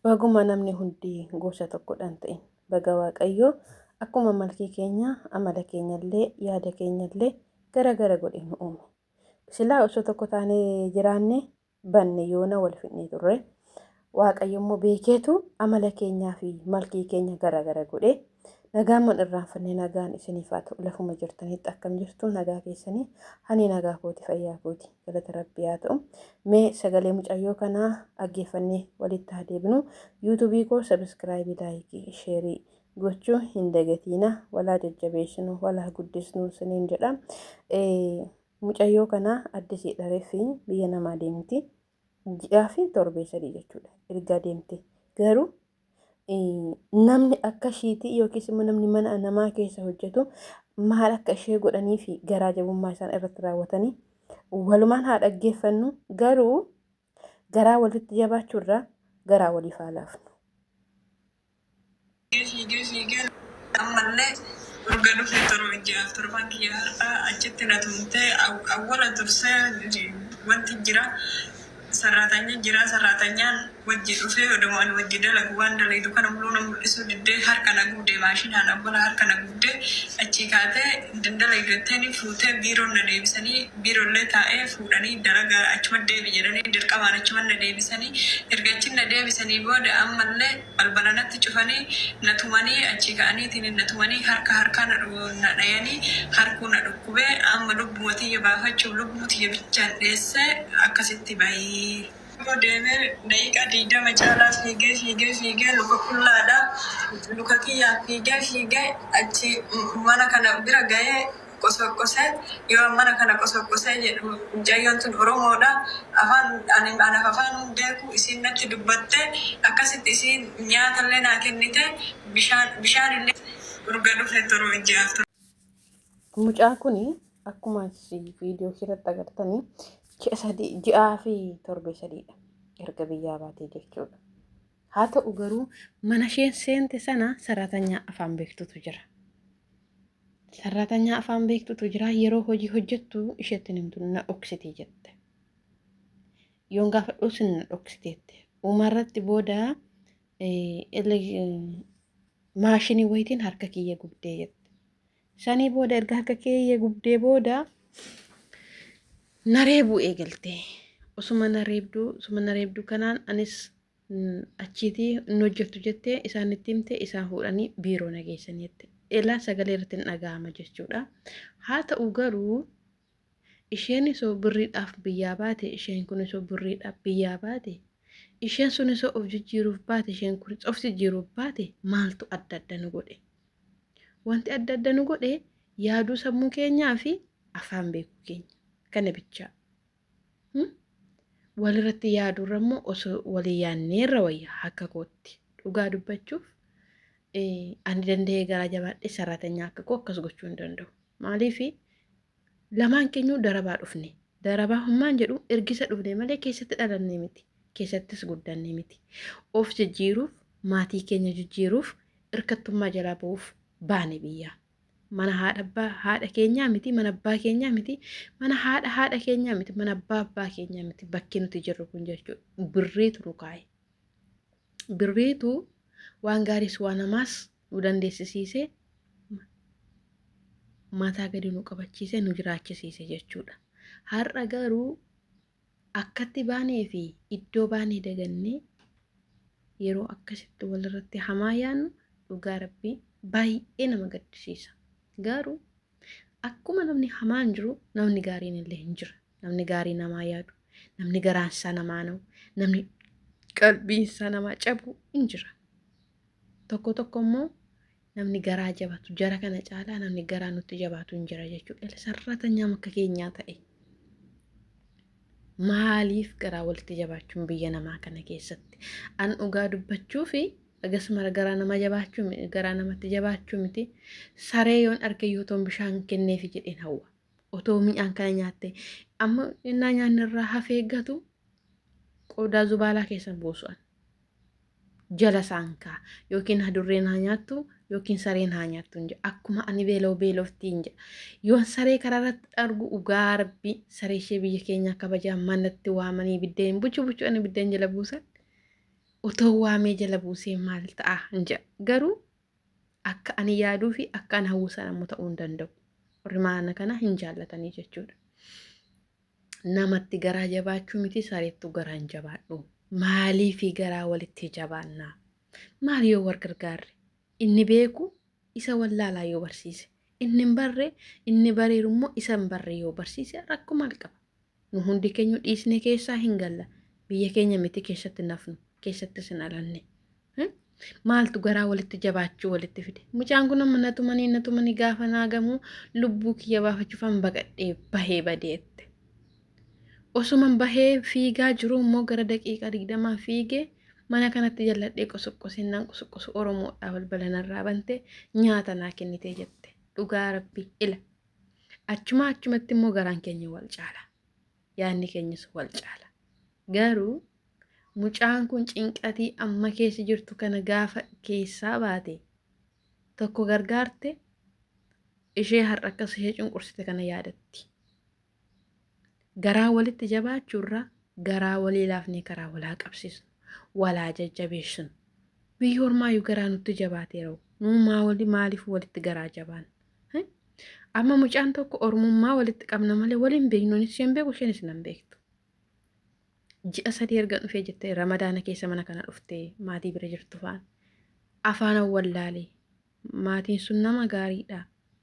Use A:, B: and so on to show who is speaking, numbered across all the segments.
A: Baguma namni hundi gosa tokkodha hin ta'in. Baga Waaqayyo akkuma malkii keenya, amala keenyallee, yaada keenyallee gara gara godhe nu uume. Silaa osoo tokko taanee jiraanne banne yoona wal fidnee turre. Waaqayyo immoo beekeetu amala keenyaa fi malkii keenya gara gara godhe. Nagaan man irraanfanne nagaan isiniif haa ta'u lafuma jirtanitti akkam jirtu nagaa keessanii hani nagaa kooti fayyaa kooti galata rabbii haa ta'u mee sagalee mucayyoo kanaa dhaggeeffannee walitti haa deebinu yuutuubii koo sabiskiraayibii laayikii sheerii gochuu hin dagatiina walaa jajjabeessinu walaa guddisnu isiniin jedha mucayyoo kanaa addisii dhareefi biyya namaa deemti ji'aa fi torbee sadii jechuudha ergaa deemte garuu namni akka ishiitii yookiis immoo namni mana namaa keessa hojjetu maal akka ishee godhanii fi garaa jabummaa isaan irratti raawwatanii walumaan haa dhaggeeffannu garuu garaa walitti jabaachuurraa garaa waliif haa laafnu. Fiigee fiigee fiigee lafatti ammallee urga dhufee torba ji'a torban kiyya har'aa achitti na tumtee awwala tursee wanti jira sarraatanya jira sarraatanyaan wajji dhufee odoma ani wajji dalagu waan dalaydu kana muluu na mul'isuu diddee harka na gubdee maashinaan awwala harka na gubdee achii kaatee hin dalaydu jetteeni fuutee biiroon na deebisanii biirollee taa'ee fuudhanii dalaga achuma deebi jedhanii dirqamaan achuman na deebisanii erga achin na deebisanii booda ammallee Balbala natti cufanii, na tumanii, achii ka'aniitiin na tumanii, harka harkaa na dhayanii, harkuu na dhukkube, amma lubbuma tiyya baafachuuf lubbuu tiyya bichaan dheesse akkasitti bahi. Yoo deeme daqiiqaa 20 caalaa fiigee fiigee fiigee luka qullaadha, luka kiyyaan fiigee fiigee achii mana kana bira gahee, qosoqqose yoo mana kana qosoqqose jedhu mucayyoon tun oromoodha afaan ani anaaf afaan hin beeku isiin natti dubbatte akkasitti isiin nyaata illee naa kennite bishaan bishaan illee urga dhufe torbe ji'aaf ture. Mucaa kuni akkuma viidiyoo kiirratti agartanii ji'a sadii ji'aa fi torbee sadiidha erga biyyaa baatee jechuudha. Haa ta'u garuu mana isheen seente sana saraatanyaa afaan beektutu jira. Sarratanyaa afaan beektutu jira yeroo hojii hojjettu isheetti hin himtu na dhoksite jette. Yoon gaafadhu sin na dhoksiteette. Umarratti booda maashinii wayitiin harka kiyya gubdee jette. Sanii booda erga harka kiyya gubdee booda na reebuu eegalte. Osuma na reebduu osuma na reebduu kanaan anis achiiti hin hojjettu jettee isaan itti himte isaan fuudhanii biiroo na geessanii jette. Elaa sagalee irratti hin dhaga'ama jechuudha. Haa ta'u garuu isheen isoo birriidhaaf biyyaa baate isheen kun isoo birriidhaaf biyyaa baate isheen sun isoo of jijjiiruuf baate isheen kun of jijjiiruuf baate maaltu adda adda nu godhe. Wanti adda adda nu godhe yaaduu sammuu keenyaa fi afaan beekuu keenya kana bichaa. walirratti yaadurra immoo osoo walii yaanneerra wayya akka kootti dhugaa dubbachuuf ani danda'ee garaa jabaadhee saraatanyaa akka koo akkas gochuu hin danda'u maaliif lamaan keenyuu darabaa dhufne darabaa hummaan jedhu ergisa dhufne malee keessatti dhalannee miti keessattis guddannee miti of jijjiiruuf maatii keenya jijjiiruuf irkattummaa jalaa ba'uuf baane biyyaa mana haadha abbaa haadha keenyaa miti mana abbaa keenyaa miti mana haadha haadha keenyaa miti mana abbaa abbaa keenyaa miti bakki nuti jirru kun jechuudha birriitu nu kaa'e birriitu waan gaariis waan hamaas nu dandeessisiisee mataa gadi nu qabachiisee nu jiraachisiise jechuudha har'a garuu Akkatti baanee fi iddoo baanee dagannee yeroo akkasitti walirratti hamaa yaannu dhugaa rabbii baay'ee nama gaddisiisa. Garuu akkuma namni hamaan jiru namni gaariin illee hin jira. Namni gaarii namaa yaadu, namni garaansaa namaa na'u, namni qalbiinsaa namaa cabu hin jira. Tokko tokko immoo namni garaa jabatu jara kana caalaa namni garaa nutti jabaatu hin jira jechuudha. Illee sarratanyaan akka keenyaa ta'e. Maaliif garaa walitti jabaachuun biyya namaa kana keessatti? An dhugaa dubbachuu fi akkasuma garaa nama jabaachuu mi- garaa namatti jabaachuu miti. Saree yoon arge yoo ta'u bishaan kenneefi jedheen hawwa. Otoo mi'aan kana nyaatte amma innaa nyaanni irraa hafee gatu qodaa zubaalaa keessan buusu'an. jala isaan kaa yookiin hadurreen haa nyaattu yookiin sareen haa nyaattu hin jedha akkuma ani beeloo beeloftii hin jedha yoon saree karaarratti argu dhugaa rabbii saree ishee biyya keenyaa kabajaa manatti waamanii biddeen buchu buchu ani biddeen jala buusan otoo
B: waamee jala buusee maal ta'a hin jedha garuu akka ani yaaduu fi akka ani hawwisan ammoo ta'uu hin danda'u warri maana kana hin jaallatanii jechuudha. namatti garaa jabaachuu miti sareettu garaa hin jabaadhu maaliifi garaa walitti jabaannaa maal yoo wal gargaarre inni beeku isa wallaalaa yoo barsiise inni hin barre inni bareeru immoo isa hin barre yoo barsiise rakkoo maal qaba nu hundi keenya dhiisne keessaa hin galla biyya keenya miti keessatti nafnu keessattis hin alanne maaltu garaa walitti jabaachuu walitti fide mucaan kun amma natumanii natumanii gaafa naagamuu lubbuu kiyya baafachuufan baqadhee bahee badeette osuman bahee fiigaa jiruu immoo gara daqiiqaa digdamaa fiigee mana kanatti jalladhee qosoqqoseen nan qosoqqosu oromoodhaa balbala narraa bante nyaata naa kennitee jette dhugaa rabbii ila achumaa achumatti immoo garaan keenya wal caala yaadni keenyas wal caala. Garuu mucaan kun cinqatii amma keessa jirtu kana gaafa keessaa baate tokko gargaarte ishee har'a akkas ishee cunqursite kana yaadatti. Garaa walitti jabaachuurraa garaa walii laafnee karaa walaa qabsiisnu walaa jajjabeessinu. Biyyi ormaayyuu garaa nutti jabaateera. Nuu maa wali maaliif walitti garaa jabaan? Amma mucaan tokko ormummaa walitti qabna malee waliin beeknu anis isheen beeku isheenis nan beektu. Ji'a sadii erga dhufee jettee ramadaana keessa mana kana dhuftee maatii bira jirtu faan afaan wallaalee maatiin sun nama gaariidha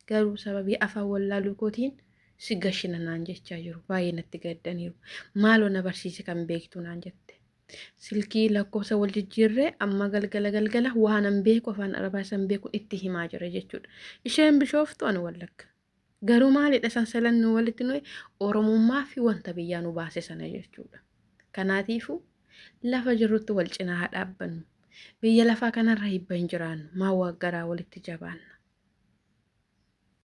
B: garuu sababii afaan wallaaluu kootiin si gashina naan jechaa jiru baay'ee natti gaddaniiru maaloo na barsiise kan beektu naan jette silkii lakkoofsa wal jijjiirree amma galgala galgala waanan beeku afaan arabaa isan beeku itti himaa jira jechuudha. Isheen bishooftu ani wallagga. Garuu maalidha sansalan nu walitti nuyi oromummaa fi wanta biyyaa nu baase sana jechuudha. Kanaatiifuu lafa jirrutti wal cinaa haa dhaabbannu. Biyya lafaa kanarra hibba hin jiraannu. Maa waaggaraa walitti jabaanna.